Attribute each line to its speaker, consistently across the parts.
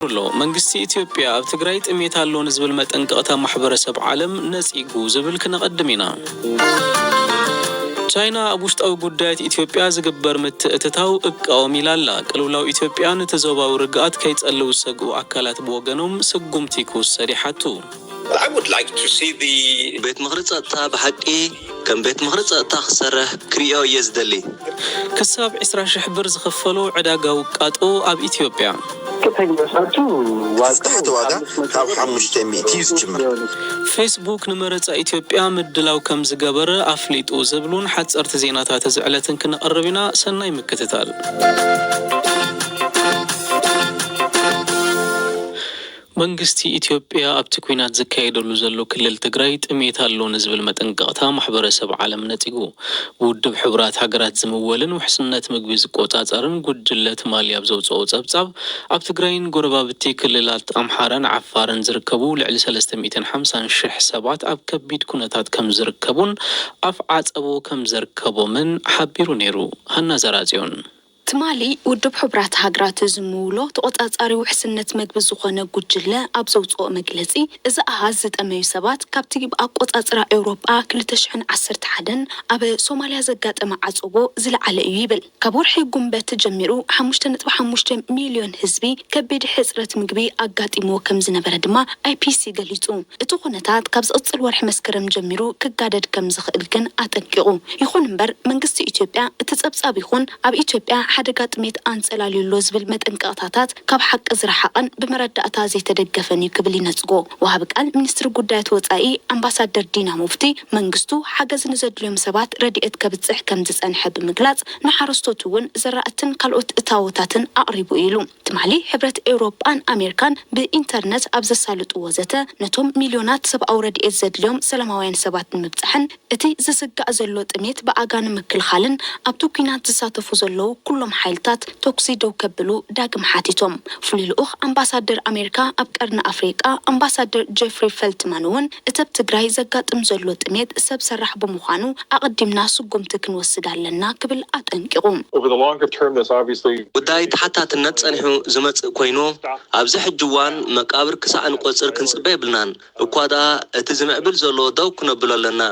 Speaker 1: ኣሎ። መንግስቲ ኢትዮጵያ ኣብ ትግራይ ጥሜት ኣሎ ንዝብል መጠንቀቕታ ማሕበረሰብ ዓለም ነጺጉ ዝብል ክነቐድም ኢና። ቻይና ኣብ ውሽጣዊ ጉዳያት ኢትዮጵያ ዝግበር ምትእትታው እቃወም ኢላ ኣላ። ቅልውላው ኢትዮጵያ ነቲ ዞባዊ ርግኣት ከይጸልው ዝሰግኡ ኣካላት ብወገኖም ስጉምቲ ክውሰድ ይሓቱ።
Speaker 2: ቤት ምኽሪ ጸጥታ
Speaker 3: ብሓቂ ከም ቤት ምኽሪ ፀጥታ ክሰርሕ ክርእዮ እየ ዝደሊ። ክሳብ
Speaker 1: ዕስራ ሽሕ ብር ዝኽፈሎ ዕዳጋ ውቃጦ ኣብ ኢትዮጵያ። እቲ ዝተሓተ
Speaker 2: ዋጋ ካብ ሓሙሽተ ሚእቲ እዩ ዝጅምር። ፌስቡክ
Speaker 1: ንመረፃ ኢትዮጵያ ምድላው ከምዝገበረ ኣፍሊጡ ዝብሉን ሓፀርቲ ዜናታት እዚ ዕለትን ክነቕርብ ኢና። ሰናይ ምክትታል። መንግስቲ ኢትዮጵያ ኣብቲ ኲናት ዝካየደሉ ዘሎ ክልል ትግራይ ጥሜት ኣሎ ንዝብል መጠንቀቕታ ማሕበረሰብ ዓለም ነጺጉ ብውድብ ሕቡራት ሃገራት ዝምወልን ውሕስነት ምግቢ ዝቆጻጸርን ጉጅለ ትማሊ ኣብ ዘውጽኦ ጸብጻብ ኣብ ትግራይን ጎረባብቲ ክልላት ኣምሓራን ዓፋርን ዝርከቡ ልዕሊ ሰለስተ ሚእትን ሓምሳን ሽሕ ሰባት ኣብ ከቢድ ኩነታት ከምዝርከቡን ኣፍ ዓጸቦ ከምዘርከቦምን ሓቢሩ ነይሩ ሃና ዘርኣጽዮን ትማሊ
Speaker 4: ውድብ ሕቡራት ሃገራት ዝምውሎ ተቖጻጻሪ ውሕስነት መግቢ ዝኾነ ጉጅለ ኣብ ዘውጽኦ መግለጺ፣ እዚ ኣሃዝ ዝጠመዩ ሰባት ካብቲ ብ ኣቆጻጽራ ኤውሮጳ ክልተ ሽሕን ዓሰርተ ሓደን ኣብ ሶማልያ ዘጋጠመ ዓጸቦ ዝለዓለ እዩ ይብል። ካብ ወርሒ ጉንበት ጀሚሩ ሓሙሽተ ነጥቢ ሓሙሽተ ሚልዮን ህዝቢ ከቢድ ሕጽረት ምግቢ ኣጋጢምዎ ከም ዝነበረ ድማ IPC ገሊጹ። እቲ ኩነታት ካብ ዝቕጽል ወርሒ መስከረም ጀሚሩ ክጋደድ ከም ዝኽእል ግን ኣጠንቂቑ። ይኹን እምበር መንግስቲ ኢትዮጵያ እቲ ፀብፃብ ይኹን ኣብ ኢትዮጵያ ሓደጋ ጥሜት ኣንፀላልዩ ኣሎ ዝብል መጠንቀቕታታት ካብ ሓቂ ዝረሓቐን ብመረዳእታ ዘይተደገፈን እዩ ክብል ይነፅጎ ወሃቢ ቃል ሚኒስትሪ ጉዳያት ወፃኢ ኣምባሳደር ዲና ሙፍቲ። መንግስቱ ሓገዝ ንዘድልዮም ሰባት ረድኤት ከብፅሕ ከምዝፀንሐ ብምግላፅ ንሓረስቶት እውን ዘራእትን ካልኦት እታዎታትን ኣቕሪቡ እዩ ኢሉ። ትማሊ ሕብረት ኤውሮጳን ኣሜርካን ብኢንተርነት ኣብ ዘሳልጥዎ ዘተ ነቶም ሚልዮናት ሰብኣዊ ረድኤት ዘድልዮም ሰላማውያን ሰባት ንምብጻሕን እቲ ዝስጋእ ዘሎ ጥሜት ብኣጋ ንምክልኻልን ኣብቲ ኲናት ዝሳተፉ ዘለዉ ኩሎም ሓይልታት ተኵሲ ደው ከብሉ ዳግም ሓቲቶም። ፍሉይ ልኡኽ ኣምባሳደር ኣሜርካ ኣብ ቀርኒ ኣፍሪቃ ኣምባሳደር ጀፍሪ ፈልትማን'ውን እተብ ትግራይ ዘጋጥም ዘሎ ጥሜት ሰብ ሰራሕ ብምዃኑ ኣቐዲምና ስጉምቲ ክንወስድ ኣለና ክብል ኣጠንቂቑ።
Speaker 5: ጉዳይ ተሓታትነት
Speaker 3: ጸኒሑ ዝመጽእ ኮይኑ፣ ኣብዚ ሕጂ እዋን መቃብር ክሳዕ እንቆጽር ክንጽበ የብልናን፣ እኳ ደኣ እቲ ዝምዕብል ዘሎ ደው ክነብሎ ኣለና።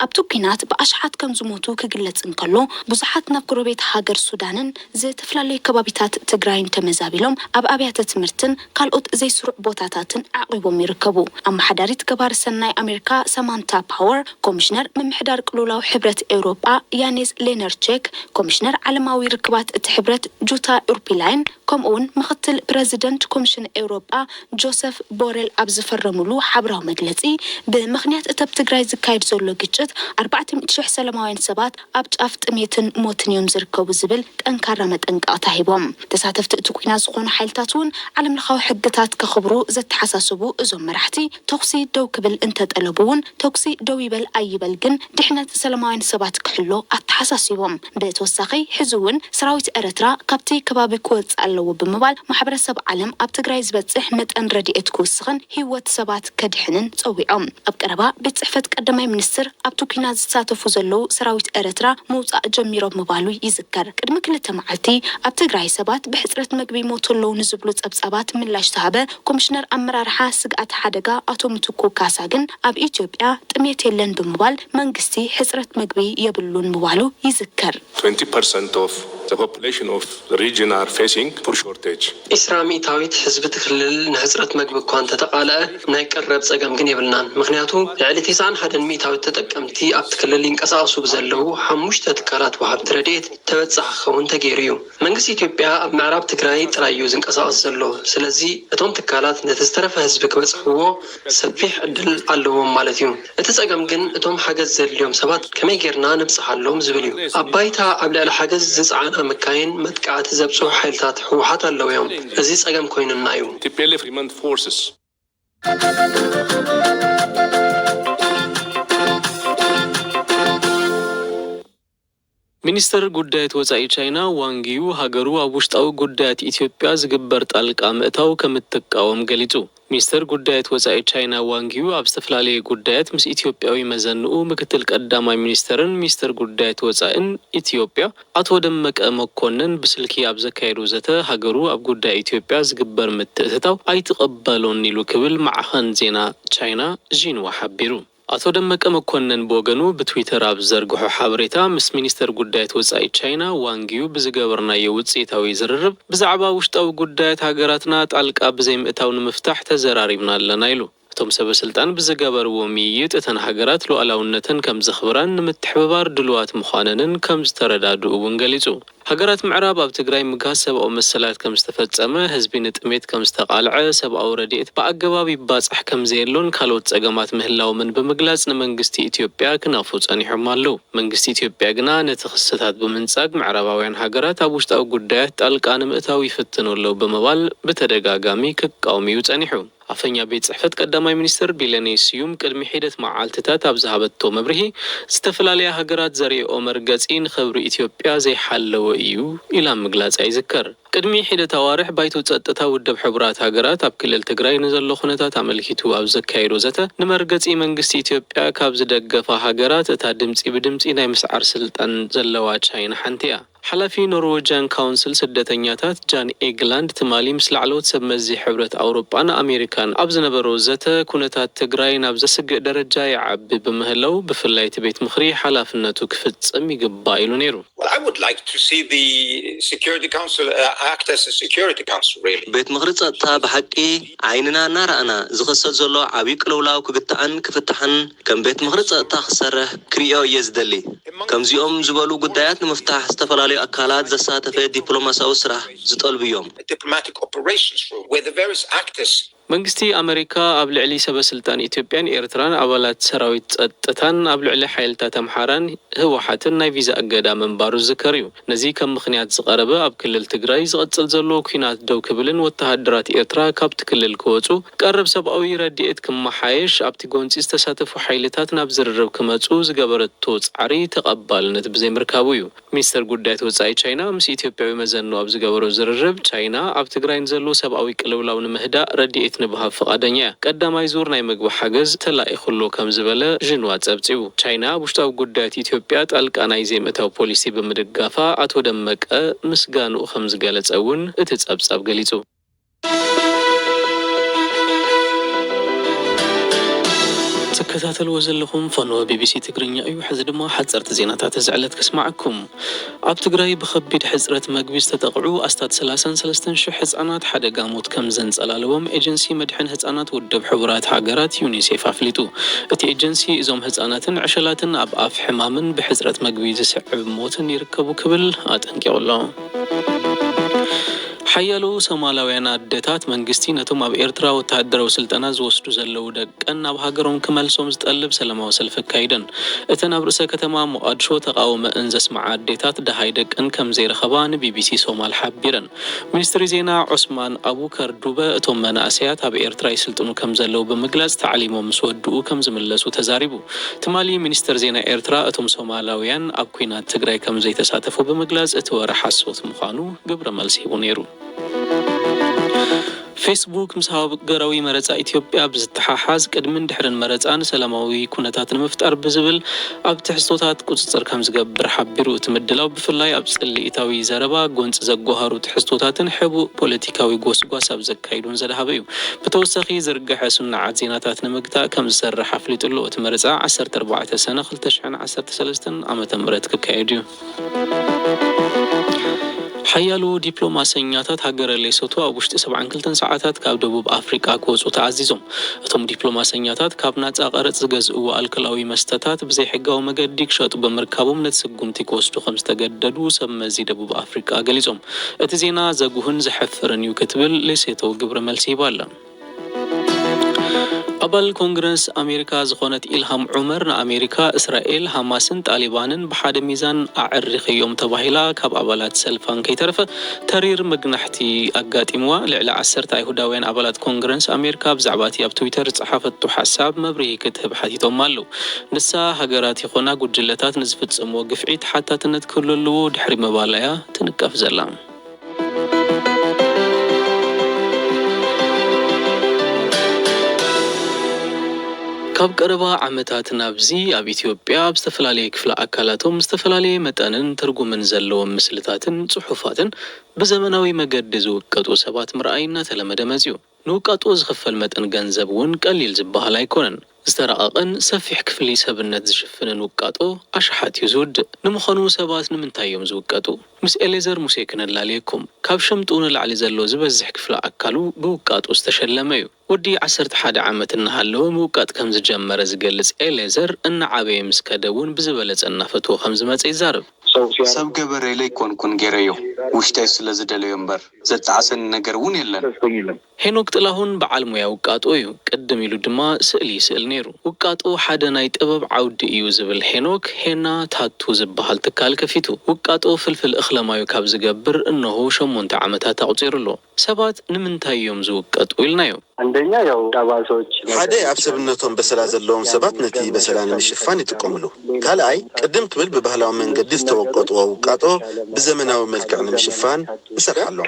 Speaker 5: ኣብቲ ኲናት
Speaker 4: ብኣሽሓት ከምዝሞቱ ክግለጽ እንከሎ፣ ብዙሓት ናብ ጎረቤት ሃገር ሱዳንን፣ ዝተፈላለዩ ከባቢታት ትግራይን ተመዛቢሎም ኣብ ኣብያተ ትምህርትን ካልኦት ዘይስሩዕ ቦታታትን ኣዕቝቦም ይርከቡ። ኣመሓዳሪት ገባሪ ሰናይ ኣሜሪካ ሳማንታ ፓወር፣ ኮሚሽነር ምምሕዳር ቅልውላው ሕብረት ኤውሮጳ ያኔዝ ሌነርቼክ፣ ኮሚሽነር ዓለማዊ ርክባት እቲ ሕብረት ጁታ ኡርፒላይን ከምኡ'ውን ምኽትል ፕረዚደንት ኮሚሽን ኤውሮጳ ጆሰፍ ቦረል ኣብ ዝፈረምሉ ሓብራዊ መግለጺ ብምኽንያት እቲኣብ ትግራይ ዝካየድ ዘሎ ግጭት ኣርባዕተ ሚእቲ ሽሕ ሰለማውያን ሰባት ኣብ ጫፍ ጥሜትን ሞትን እዮም ዝርከቡ ዝብል ጠንካራ መጠንቀቕታ ሂቦም። ተሳተፍቲ እቲ ኲናት ዝኾኑ ሓይልታት እውን ዓለምለኻዊ ሕግታት ከኽብሩ ዘተሓሳሰቡ እዞም መራሕቲ፣ ተኹሲ ደው ክብል እንተጠለቡ እውን ተኹሲ ደው ይበል ኣይበል ግን ድሕነት ሰላማውያን ሰባት ክሕሎ ኣተሓሳሲቦም። ብተወሳኺ ሕዚ እውን ሰራዊት ኤርትራ ካብቲ ከባቢ ክወፅእ ኣለዎ ብምባል ማሕበረሰብ ዓለም ኣብ ትግራይ ዝበፅሕ መጠን ረድኤት ክውስኽን ህይወት ሰባት ከድሕንን ጸዊዖም። ኣብ ቀረባ ቤት ጽሕፈት ቀዳማይ ሚኒስትር ኣብቲ ኲናት ዝሳተፉ ዘለዉ ሰራዊት ኤርትራ ምውጻእ ጀሚሮም ምባሉ ይዝከር። ቅድሚ ክልተ መዓልቲ ኣብ ትግራይ ሰባት ብሕጽረት መግቢ ይሞቱ ኣለዉ ንዝብሉ ጸብጻባት ምላሽ ዝሃበ ኮሚሽነር ኣመራርሓ ስግኣተ ሓደጋ ኣቶ ምትኩ ካሳ ግን ኣብ ኢትዮጵያ ጥምየት የለን ብምባል መንግስቲ ሕጽረት መግቢ የብሉን ምባሉ ይዝከር። 20%
Speaker 6: of the population of the region are facing food shortage. ዒስራ ሚእታዊት
Speaker 7: ህዝቢ እቲ ክልል ንሕጽረት መግቢ እኳ እንተተቓልዐ ናይ ቀረብ ጸገም ግን የብልናን። ምኽንያቱ ልዕሊ ቴስዓን ሓደን ሚእታዊት ተጠቀምቲ ኣብቲ ክልል ይንቀሳቐሱ ብዘለዉ ሓሙሽተ ትካላት ወሃብቲ ረድኤት ተበጻሒ ክኸውን ተገይሩ እዩ። መንግስቲ ኢትዮጵያ ኣብ ምዕራብ ትግራይ ጥራይ እዩ ዝንቀሳቐስ ዘሎ። ስለዚ እቶም ትካላት ነቲ ዝተረፈ ህዝቢ ክበጽሕዎ ሰፊሕ ዕድል ኣለዎም ማለት እዩ። እቲ ጸገም ግን እቶም ሓገዝ ዘድልዮም ሰባት ከመይ ጌርና ንብጽሓሎም ዝብል እዩ። ኣብ ባይታ ኣብ ልዕሊ ሓገዝ ዝጸዓና መካይን መጥቃዕቲ ዘብጽሑ ሓይልታት ህወሓት ኣለዉ እዮም። እዚ ጸገም ኮይኑና እዩ። tplf Remand Forces።
Speaker 1: ሚኒስተር ጉዳያት ወጻኢ ቻይና ዋንግ ዩ ሃገሩ ኣብ ውሽጣዊ ጉዳያት ኢትዮጵያ ዝግበር ጣልቃ ምእታው ከምትቃወም ገሊጹ። ሚኒስተር ጉዳያት ወጻኢ ቻይና ዋንግ ዩ ኣብ ዝተፈላለየ ጉዳያት ምስ ኢትዮጵያዊ መዘንኡ ምክትል ቀዳማይ ሚኒስተርን ሚኒስተር ጉዳያት ወጻኢን ኢትዮጵያ ኣቶ ደመቀ መኮነን ብስልኪ ኣብ ዘካየዶ ዘተ ሃገሩ ኣብ ጉዳይ ኢትዮጵያ ዝግበር ምትእትታው ኣይትቕበሎን ኢሉ ክብል ማዕኸን ዜና ቻይና ዢንዋ ሓቢሩ። ኣቶ ደመቀ መኮነን ብወገኑ ብትዊተር ኣብ ዝዘርግሖ ሓበሬታ፣ ምስ ሚኒስተር ጉዳያት ወጻኢ ቻይና ዋንግ ዩ ብዝገበርናዮ ውጽኢታዊ ዝርርብ፣ ብዛዕባ ውሽጣዊ ጉዳያት ሃገራትና ጣልቃ ብዘይምእታው ንምፍታሕ ተዘራሪብና ኣለና ኢሉ። እቶም ሰበስልጣን ብዝገበርዎ ምይይጥ እተን ሃገራት ሉኣላውነተን ከምዘኽብራን ንምትሕብባር ድሉዋት ምዃነንን ከምዝተረዳድኡ እውን ገሊጹ። ሃገራት ምዕራብ ኣብ ትግራይ ምግሃስ ሰብኣዊ መሰላት ከም ዝተፈጸመ፣ ህዝቢ ንጥሜት ከም ዝተቓልዐ፣ ሰብኣዊ ረድኤት ብኣገባብ ይባጻሕ ከም ዘየሎን ካልኦት ጸገማት ምህላዎምን ብምግላጽ ንመንግስቲ ኢትዮጵያ ክናፉ ጸኒሖም ኣለዉ። መንግስቲ ኢትዮጵያ ግና ነቲ ክስታት ብምንጻግ ምዕራባውያን ሃገራት ኣብ ውሽጣዊ ጉዳያት ጣልቃ ንምእታው ይፍትኑ ኣለዉ ብምባል ብተደጋጋሚ ክቃወም'ዩ ጸኒሑ። ኣፈኛ ቤት ፅሕፈት ቀዳማይ ሚኒስትር ቢለኔ ስዩም ቅድሚ ሒደት መዓልቲታት ኣብ ዝሃበቶ መብርሂ፣ ዝተፈላለያ ሃገራት ዘርእየኦ መርገፂ ንኽብሪ ኢትዮጵያ ዘይሓለወ እዩ ኢላ ምግላፃ ይዝከር። ቅድሚ ሒደት ኣዋርሕ ባይቶ ፀጥታ ውድብ ሕቡራት ሃገራት ኣብ ክልል ትግራይ ንዘሎ ኩነታት ኣመልኪቱ ኣብ ዘካየዶ ዘተ ንመርገፂ መንግስቲ ኢትዮጵያ ካብ ዝደገፋ ሃገራት እታ ድምፂ ብድምፂ ናይ ምስዓር ስልጣን ዘለዋ ቻይና ሓንቲ እያ። ሓላፊ ኖርወጅያን ካውንስል ስደተኛታት ጃን ኤግላንድ ትማሊ ምስ ላዕለዎት ሰብ መዚ ሕብረት ኣውሮጳን ኣሜሪካን ኣብ ዝነበሮ ዘተ ኩነታት ትግራይ ናብ ዘስግእ ደረጃ ይዓቢ ብምህላው ብፍላይ እቲ ቤት ምኽሪ ሓላፍነቱ ክፍጽም ይግባእ ኢሉ ነይሩ።
Speaker 2: ቤት ምኽሪ ጸጥታ
Speaker 3: ብሓቂ ዓይንና እናረኣና ዝኸሰት ዘሎ ዓብይ ቅልውላው ክግታእን ክፍታሕን ከም ቤት ምኽሪ ፀጥታ ክሰርሕ ክሪኦ እየ ዝደሊ። ከምዚኦም ዝበሉ ጉዳያት ንምፍታሕ ዝተፈላለዩ ኣካላት ዘሳተፈ ዲፕሎማሲያዊ ስራሕ ዝጠልቡ እዮም።
Speaker 2: መንግስቲ ኣመሪካ
Speaker 1: ኣብ ልዕሊ ሰበስልጣን ኢትዮጵያን ኤርትራን ኣባላት ሰራዊት ፀጥታን ኣብ ልዕሊ ሓይልታት ኣምሓራን ህወሓትን ናይ ቪዛ እገዳ ምንባሩ ዝዝከር እዩ። ነዚ ከም ምኽንያት ዝቐረበ ኣብ ክልል ትግራይ ዝቐጽል ዘሎ ኲናት ደው ክብልን ወተሃደራት ኤርትራ ካብቲ ክልል ክወጹ፣ ቀረብ ሰብኣዊ ረዲኤት ክመሓየሽ፣ ኣብቲ ጎንጺ ዝተሳተፉ ሓይልታት ናብ ዝርርብ ክመጹ ዝገበረቶ ጻዕሪ ተቐባልነት ብዘይምርካቡ እዩ። ሚኒስተር ጉዳያት ወጻኢ ቻይና ምስ ኢትዮጵያዊ መዘንኡ ኣብ ዝገበሮ ዝርርብ፣ ቻይና ኣብ ትግራይ ንዘሎ ሰብኣዊ ቅልውላው ንምህዳእ ረዲኤት ንብሃብ ፍቓደኛ እያ፣ ቀዳማይ ዙር ናይ መግቢ ሓገዝ ተላኢኹ'ሎ ከም ዝበለ ዥንዋ ጸብጺቡ። ቻይና ኣብ ውሽጣዊ ጉዳያት ኢትዮጵያ ጣልቃ ናይ ዘይምእታው ፖሊሲ ብምድጋፋ ኣቶ ደመቀ ምስጋንኡ ከምዝገለፀ እውን እቲ ፀብፃብ ገሊፁ። ትከታተልዎ ዘለኹም ፈነወ ቢቢሲ ትግርኛ እዩ። ሕዚ ድማ ሓፀርቲ ዜናታት እዚ ዕለት ከስመዐኩም። ኣብ ትግራይ ብኸቢድ ሕጽረት መግቢ ዝተጠቕዑ ኣስታት ሰላሳን ሰለስተን ሽሕ ህጻናት ሓደጋ ሞት ከም ዘንጸላለዎም ኤጀንሲ መድሕን ህጻናት ውድብ ሕቡራት ሃገራት፣ ዩኒሴፍ፣ ኣፍሊጡ። እቲ ኤጀንሲ፣ እዞም ህጻናትን ዕሸላትን ኣብ ኣፍ ሕማምን ብሕጽረት መግቢ ዝስዕብ ሞትን ይርከቡ ክብል ኣጠንቂቑ'ሎ። ሓያሎ ሶማላውያን ኣደታት፣ መንግስቲ ነቶም ኣብ ኤርትራ ወተሃደራዊ ስልጠና ዝወስዱ ዘለዉ ደቀን ናብ ሃገሮም ክመልሶም ዝጠልብ ሰለማዊ ሰልፊ ኣካይደን። እተን ኣብ ርእሰ ከተማ ሞቓድሾ ተቓውመእን ዘስመዓ ኣዴታት ደሃይ ደቀን ከም ዘይረኸባ ንቢቢሲ ሶማል ሓቢረን። ሚኒስትሪ ዜና ዑስማን ኣቡከር ዱበ እቶም መናእሰያት ኣብ ኤርትራ ይስልጥኑ ከም ዘለዉ ብምግላጽ ታዕሊሞም ምስ ወድኡ ከም ዝምለሱ ተዛሪቡ። ትማሊ ሚኒስተር ዜና ኤርትራ እቶም ሶማላውያን ኣብ ኲናት ትግራይ ከም ዘይተሳተፉ ብምግላጽ እቲ ወረ ሓሶት ምዃኑ ግብረ መልሲ ሂቡ ነይሩ። ፌስቡክ ምስ ሃገራዊ መረፃ ኢትዮጵያ ብዝተሓሓዝ ቅድምን ድሕርን መረፃን ሰላማዊ ኩነታት ንምፍጣር ብዝብል ኣብ ትሕዝቶታት ቁፅፅር ከምዝገብር ሓቢሩ። እቲ ምድላው ብፍላይ ኣብ ፅልኢታዊ ዘረባ፣ ጎንፂ ዘጓሃሩ ትሕዝቶታትን ሕቡእ ፖለቲካዊ ጎስጓስ ኣብ ዘካይዱን ዘድሃበ እዩ። ብተወሳኺ ዝርገሐ ስኑዓት ዜናታት ንምግታእ ከምዝሰርሕ ኣፍሊጡ'ሎ። እቲ መረፃ ዓሰርተ ኣርባዕተ ሰነ ክልተ ሽሕን ዓሰርተ ሰለስተን ዓመተ ምህረት ክካየድ እዩ። ሓያሎ ዲፕሎማሰኛታት ሃገረ ሌሶቶ ኣብ ውሽጢ ሰብዓን ክልተን ሰዓታት ካብ ደቡብ ኣፍሪቃ ክወጹ ተኣዚዞም። እቶም ዲፕሎማሰኛታት ካብ ናጻ ቀረጽ ዝገዝእዎ ኣልከላዊ መስተታት ብዘይሕጋዊ መገዲ ክሸጡ ብምርካቦም ነቲ ስጉምቲ ክወስዱ ከምዝተገደዱ ሰብመዚ ደቡብ ኣፍሪቃ ገሊጾም። እቲ ዜና ዘጉህን ዘሕፍርን እዩ ክትብል ሌሴቶ ግብረ መልሲ ሂባ ኣላ። ኣባል ኮንግረስ ኣሜሪካ ዝኾነት ኢልሃም ዑመር ንኣሜሪካ፣ እስራኤል፣ ሃማስን ጣሊባንን ብሓደ ሚዛን ኣዐሪኸዮም ተባሂላ ካብ ኣባላት ሰልፋ እንከይተረፈ ተሪር መግናሕቲ ኣጋጢምዋ። ልዕሊ ዓሰርተ ኣይሁዳውያን ኣባላት ኮንግረስ ኣሜሪካ ብዛዕባ'ቲ ኣብ ትዊተር ዝጸሓፈቶ ሓሳብ መብርሂ ክትህብ ሓቲቶማ ኣለዉ። ንሳ ሃገራት ይኾና ጉጅለታት ንዝፍጸምዎ ግፍዒ ተሓታትነት ክህሉ ኣለዎ ድሕሪ ምባላ'ያ ትንቀፍ ዘላ። ካብ ቀረባ ዓመታት ናብዚ ኣብ ኢትዮጵያ ኣብ ዝተፈላለየ ክፍለ ኣካላቶም ዝተፈላለየ መጠንን ትርጉምን ዘለዎም ምስልታትን ጽሑፋትን ብዘመናዊ መገዲ ዝውቀጡ ሰባት ምርኣይ እናተለመደ መጺኡ። ንውቀጡ ዝኽፈል መጠን ገንዘብ እውን ቀሊል ዝበሃል ኣይኮነን። ዝተራቐቐን ሰፊሕ ክፍሊ ሰብነት ዝሽፍንን ውቃጦ ኣሽሓት እዩ ዝውድእ። ንምኸኑ ሰባት ንምንታይ እዮም ዝውቀጡ? ምስ ኤሌዘር ሙሴ ክነላልየኩም። ካብ ሸምጡ ንላዕሊ ዘሎ ዝበዝሕ ክፍሊ ኣካሉ ብውቃጦ ዝተሸለመ እዩ። ወዲ ዓሰርተ ሓደ ዓመት እናሃለወ ምውቃጥ ከምዝጀመረ ዝገልጽ ኤሌዘር፣ እናዓበየ ምስ ከደ እውን ብዝበለጸ እናፈትዎ ከምዝመጸ ይዛረብ። ሰብ ገበረይ
Speaker 8: ለይኮንኩን ገይረዮ ውሽጠይ ስለ ዝደለዮ እምበር ዘጣዕሰኒ ነገር እውን የለን። ሄኖክ
Speaker 1: ጥላሁን በዓል ሞያ ውቃጦ እዩ። ቅድም ኢሉ ድማ ስእሊ ይስእል ነይሩ። ውቃጦ ሓደ ናይ ጥበብ ዓውዲ እዩ ዝብል ሄኖክ፣ ሄና ታቱ ዝበሃል ትካል ከፊቱ። ውቃጦ ፍልፍል እኽለማዩ ካብ ዝገብር እነሆ ሸሞንተ ዓመታት ኣቑጺሩ ኣሎ። ሰባት ንምንታይ እዮም ዝውቀጡ ኢልናዮ?
Speaker 9: ሓደ ኣብ ሰብነቶም
Speaker 10: በሰላ ዘለዎም ሰባት ነቲ በሰላ ንምሽፋን ይጥቀምሉ። ካልኣይ ቅድም ክብል ብባህላዊ መንገዲ ዝተወቀጥዎ ውቃጦ ብዘመናዊ መልክዕ ንምሽፋን ንሰርሓሎም።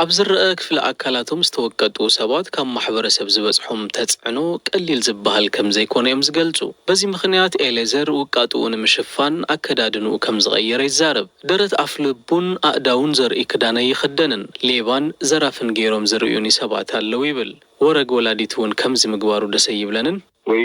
Speaker 9: ኣብ ዝረኣ
Speaker 1: ክፍሊ ኣካላቶም ዝተወቀጡ ሰባት ካብ ማሕበረሰብ ዝበፅሖም ተፅዕኖ ቀሊል ዝበሃል ከምዘይኮነ እዮም ዝገልፁ። በዚ ምኽንያት ኤሌዘር ውቃጥኡ ንምሽፋን ኣከዳድንኡ ከምዝቐየረ ይዛረብ። ደረት ኣፍልቡን ኣእዳዉን ዘርእይ ክዳን ኣይኽደንን፣ ሌባን ዘራፍን ገይሮም ዝርእዩኒ ሰባት ኣለዉ ይብል። ወረግ ወላዲት እዉን ከምዚ ምግባሩ ደስ ኣይብለንን። ወይ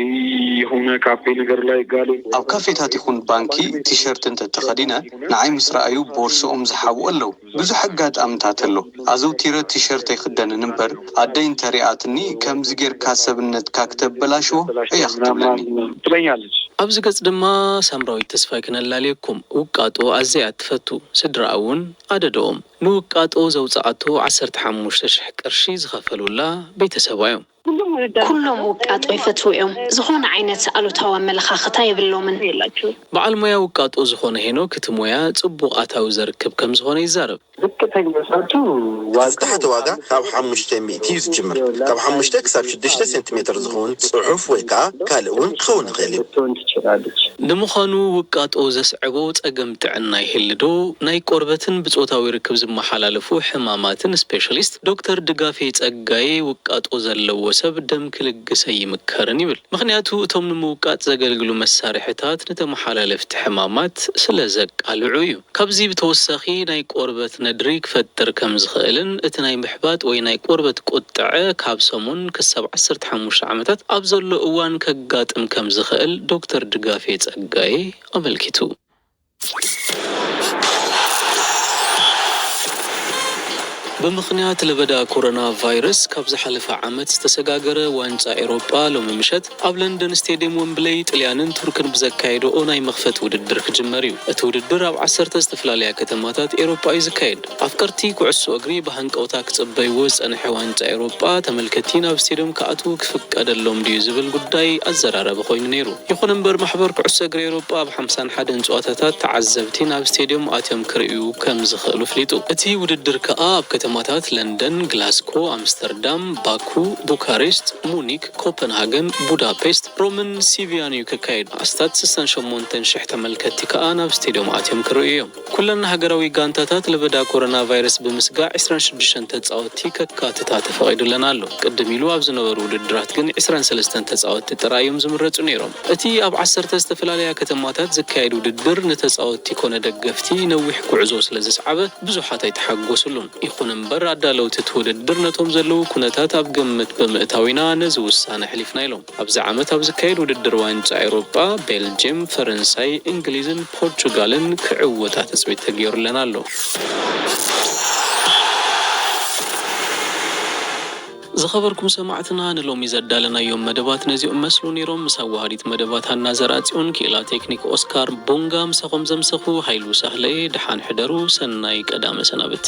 Speaker 5: የሆነ ካፌ ነገር ላይ ጋሌ። ኣብ ካፌታት ይኹን
Speaker 8: ባንኪ ቲሸርት እንተ ተኸዲነ ንዓይ ምስ ረኣዩ ቦርስኦም ዝሓብኡ ኣለዉ። ብዙሕ ኣጋጣምታት ኣሎ። ኣዘውቲረ ቲሸርት ኣይኽደንን እምበር ኣደይ እንተ ሪኣትኒ ከምዚ ጌርካ ሰብነትካ ክተበላሽዎ እያ ክትብለኒ።
Speaker 5: ኣብዚ ገጽ ድማ
Speaker 1: ሳምራዊት ተስፋይ ክነላልየኩም። ውቃጦ ኣዝያ እያ እትፈቱ። ስድራኣ እውን ኣደድኦም። ንውቃጦ ዘውጽኣቶ ዓሰርተ ሓሙሽተ ሽሕ ቅርሺ ዝኸፈሉላ ቤተሰባ እዮም። ኩሎም
Speaker 11: ውቃጦ ይፈትዉ እዮም። ዝኾነ ዓይነት ኣሉታዊ ኣመለኻኽታ የብሎምን። በዓል ሞያ
Speaker 1: ውቃጦ ዝኾነ ሄኖክ እቲ ሞያ ጽቡቕ ኣታዊ ዘርክብ ከምዝኾነ ይዛረብ። ዝቅተኛ ጫቱ ዋጋ
Speaker 10: ዝታሓተ ዋጋ ካብ ሓሙሽተ ሚእቲ እዩ ዝጅምር ካብ ሓሙሽተ ክሳብ ሽዱሽተ ሴንቲሜተር ዝኸውን ጽሑፍ ወይ ከኣ ካልእ እውን ክኸውን ይኽእል እዩ። ክትከውን ትችላለች። ንምዃኑ
Speaker 1: ውቃጦ ዘስዕቦ ጸገም ጥዕና ይህሊ ዶ? ናይ ቆርበትን ብጾታዊ ርክብ ዝመሓላለፉ ሕማማትን ስፔሻሊስት ዶክተር ድጋፌ ጸጋዬ ውቃጦ ዘለዎ ሰብ ደም ክልግስ ኣይምከርን ይብል። ምኽንያቱ እቶም ንምውቃጥ ዘገልግሉ መሳርሒታት ንተመሓላለፍቲ ሕማማት ስለዘቃልዑ እዩ። ካብዚ ብተወሳኺ ናይ ቆርበት ነድሪ ክፈጥር ከም ዝኽእልን እቲ ናይ ምሕባጥ ወይ ናይ ቆርበት ቁጥዐ ካብ ሰሙን ክሳብ ዓሰርተ ሓሙሽተ ዓመታት ኣብ ዘሎ እዋን ከጋጥም ከም ዝኽእል ዶክተር ድጋፌ ጸጋይ ኣመልኪቱ። ብምኽንያት ለበዳ ኮሮና ቫይረስ ካብ ዝሓለፈ ዓመት ዝተሰጋገረ ዋንጫ ኤሮጳ ሎሚ ምሸት ኣብ ለንደን ስቴድየም ወምብለይ ጥልያንን ቱርክን ብዘካየድኦ ናይ መኽፈቲ ውድድር ክጅመር እዩ። እቲ ውድድር ኣብ ዓሰርተ ዝተፈላለያ ከተማታት ኤሮፓ እዩ ዝካየድ። ኣፍቀርቲ ኩዕሶ እግሪ ብሃንቀውታ ክጽበይዎ ዝጸንሐ ዋንጫ ኤሮጳ ተመልከቲ ናብ ስቴድዮም ክኣትዉ ክፍቀደሎም ድዩ ዝብል ጉዳይ ኣዘራራቢ ኮይኑ ነይሩ። ይኹን እምበር ማሕበር ኩዕሶ እግሪ ኤሮጳ ኣብ ሓምሳን ሓደን ጸዋታታት ተዓዘብቲ ናብ ስቴድዮም ኣትዮም ክርእዩ ከም ዝኽእሉ ፍሊጡ። እቲ ውድድር ከኣ ኣብ ከተማታት ለንደን፣ ግላስኮ፣ ኣምስተርዳም፣ ባኩ፣ ቡካሬስት፣ ሙኒክ፣ ኮፐንሃገን፣ ቡዳፔስት፣ ሮምን ሲቪያን'ዩ ክካየድ። ኣስታት ስሳን ሸሞንተን ሽሕ ተመልከትቲ ከኣ ናብ ስቴድዮም ኣትዮም ክርእዩ'ዮም። ኩለን ሃገራዊ ጋንታታት ለበዳ ኮሮናቫይረስ ብምስጋእ ዕስራን ሽዱሽተን ተጻወትቲ ከካትታ ተፈቒዱለን ኣሎ። ቅድም ኢሉ ኣብ ዝነበሩ ውድድራት ግን ዕስራን ሰለስተን ተጻወትቲ ጥራይ'ዮም ዝምረጹ ነይሮም። እቲ ኣብ ዓሰርተ ዝተፈላለያ ከተማታት ዝካየድ ውድድር ንተጻወትቲ ኮነ ደገፍቲ ነዊሕ ጉዕዞ ስለዘስዓበ ብዙሓት ኣይተሓጎስሉን። ይኹን እምበር ኣዳለውቲ እቲ ውድድር ነቶም ዘለዉ ኩነታት ኣብ ግምት ብምእታው ኢና ነዚ ውሳነ ኣሕሊፍና ኢሎም። ኣብዚ ዓመት ኣብ ዝካየድ ውድድር ዋንጫ ኤውሮጳ፣ ቤልጅየም፣ ፈረንሳይ፣ እንግሊዝን ፖርቹጋልን ክዕወታ ትጽቢት ተገይሩለን ኣሎ። ዝኸበርኩም ሰማዕትና ንሎሚ ዘዳለናዮም መደባት ነዚኦም መስሉ ነይሮም ምስ ኣዋሃዲት መደባት ሃና ዘርኣጽዮን ክኢላ ቴክኒክ ኦስካር ቡንጋ ምሳኹም ዘምሰኹ ሃይሉ ሳህለየ ደሓን ሕደሩ ሰናይ ቀዳመ ሰናብቲ።